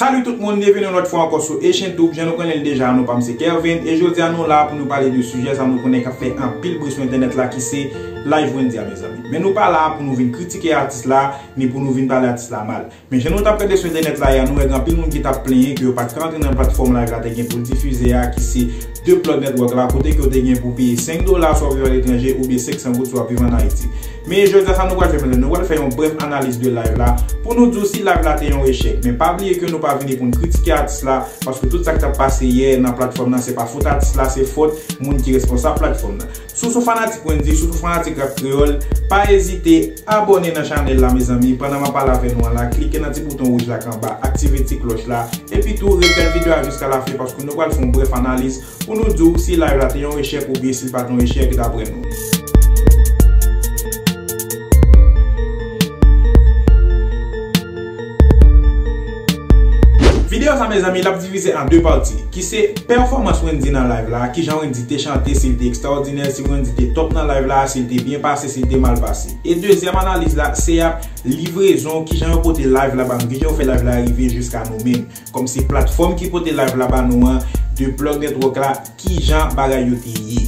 Salut tout moun, byenveni yon lòt fwa ankò sou Echentoub, jan nou konnen l deja, non pa m se Kervin, e jodi a nou la pou nou pale de sijè sa nou konnen k ap fè anpil bri sou entènèt la ki se Live Wendy a mezanmi. Men nou pa la pou nou vin kritike atis la, ni pou nou vin pale atis la mal. Men jan nou t ap gade sou entènèt la yè, nou wè gen anpil moun ki t ap plenyen ke yo pa t ka antre nan platfòm Live la te gen pou l difize a ki se 2 Club Network la kote ke w te gen pou w peye 5 dola swa w viv aletranje oubyen 500 goud swa w viv an Ayiti. Men jodi a sa nou pral fè mezanmi nou pral fè yon brèf analiz de live la pou nou di w si live la te yon echèk men pa bliye ke nou pa vini pou n kritike atis la paske tout sa k t ap pase yè nan platfòm nan se pa fot atis la se fot moun ki responsab platfòm nan. Si w son fanatik Wendyy, sitou fanatik rap kreyòl, pa ezite abòne nan chanèl la mezanmi, pandan map pale avè nou an la, klike nan ti bouton wouj la k anba, aktive ti klòch la, epi tou ret gad video a jiska lafen paske nou pral fè yon brèf analiz pou nou di w si live la te yon echèk oubyen si l pat yon echèk daprè nou. Video sa mezanmi lap divize an 2 pati ki se pèfòmans Wendy nan live la, kijan Wendy te chante, si li te ekstraòdinè, si Wendy te top nan live la, si li te byen pase, si li te mal pase. E dezyèm analiz la se ap livrezon kijan yo pote live la ba nou, kijan yo fè live la rive jiska nou menm. Kòmsi platfòm ki pote live la ba nou an, de plug network la, kijan bagay yo te ye.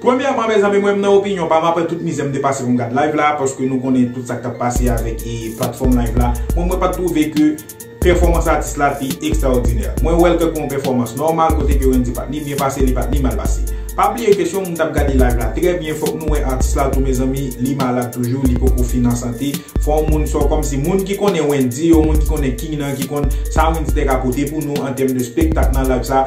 Premyèman mezanmi mwen nan opinyon pam aprè tout mizè m te pase pou m gad live la paske nou konnen tout sa k tap pase avèk platfòm live la mwen mwen pat twouve ke pèfòmans atis la te ekstraòdinè mwen wèl ke kon pèfòmans nòmal kote ke Wendy pat ni byen pase li pat ni mal pase pa bliye ke si yon moun tap gade live la trè byen fòk nou wè atis la tou mezanmi li malad toujou li poko fin an sante fò yon moun sò kòmsi moun ki konnen Wendy yo moun ki konnen king nan ki konn sa Wendy te ka pote pou nou an tèm de spektak nan live sa.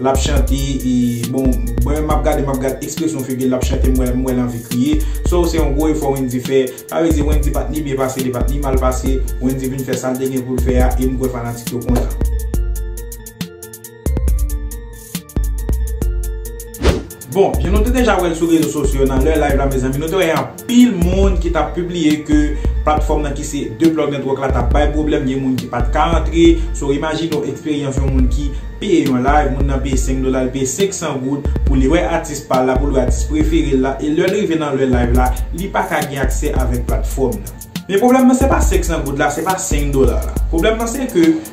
Lap chante bon mwen map gade map gad ekspresyon figil lap chante m wèl anvi kriye so se yon gwo efò Wendy fè sa vle di Wendy pat ni byen pase li pat ni mal pase Wendy vin fè sal te gen poul fè a em kwè fanatik yo kontan. Bon, jan nou te deja wè l sou rezo sosyo nan lè live la mezanmi nou te wè anpil moun ki tap pibliye ke platfòm nan ki se The Plug Network la tap bay pwoblèm gen moun ki pat ka antre so imajine w eksperyans yon moun ki peye yon live moun nan peye 5 dola li peye 500 goud pou li wè atis pa l la pou l wè atis prefere l la e lè l rive nan lè live la li pa ka gen aksè avèk platfòm nan men pwoblèm nan se pa 500 goud la se pa 5 dola la pwoblèm nan se ke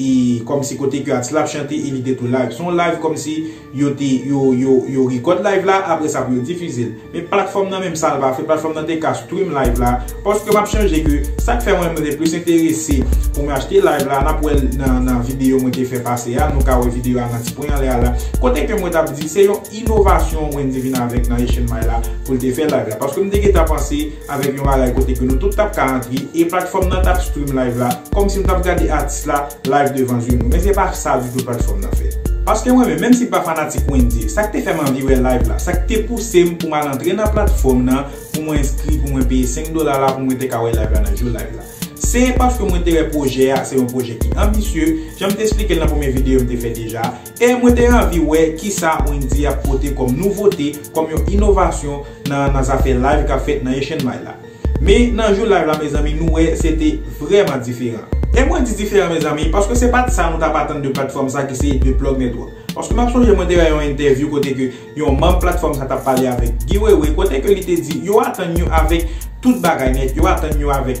E kòmsi kote ke atis la ap chante e li te tou live. Se yon live kòmsi yo te, yo, yo, yo record live la apre sa pou yo difize l. Men platfòm nan menm sa l pa fè, platfòm nan te ka stream live la. Paske m ap chanje ke sak fè mwen m te plis enterese pou m achte live la, n ap wè l nan, nan videyo mwen te fè pase a, nou ka wè videyo a nan ti pwen anlè a la. Kote ke mwen t ap di se yon inovasyon Wendyy vin avèk nan HNMI la pou l te fè live la. Paske m te gentan panse. avèk yon bagay kote ke nou tout tap ka antre e platfòm nan tap stream live la kòmsi nou tap gade atis la live devan zye nou men se pa sa ditou platfòm nan fè paske mwen menm menm si m pa fanatik Wendyy sak te fèm anvi wè live la sak te pousem poum al antre nan platfòm nan pou mwen enskri pou mwen peye 5 dola la pou mwen te ka wè live la nan jou live la se paske mwen te wè pwojè a se yon pwojè ki anbisye janm te esplikel nan premye videyo m te fè deja E mwen te anvi wè kisa Wendyy ap pote kòm nouvote, kòm yon inovasyon nan nan zafè live kap fèt nan Echenmay la. Men nan jou live la mezanmi nou wè se te vrèman diferan. E mwen di diferan mezanmi, paske se pat sa nou tap atann de platfòm sa ki se The Plug Network. Paske map sonje mwen te wè yon entèvyou kote ke yon manb platfòm sa tap pale avèk Guy Wewe kote ke li te di yo atann yo avèk tout bagay nèt, yo atann yo avèk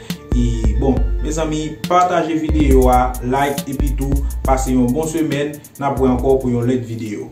E bon mezanmi pataje video a like epitou pase yon bon semèn nap wè ankò pou yon lèt video.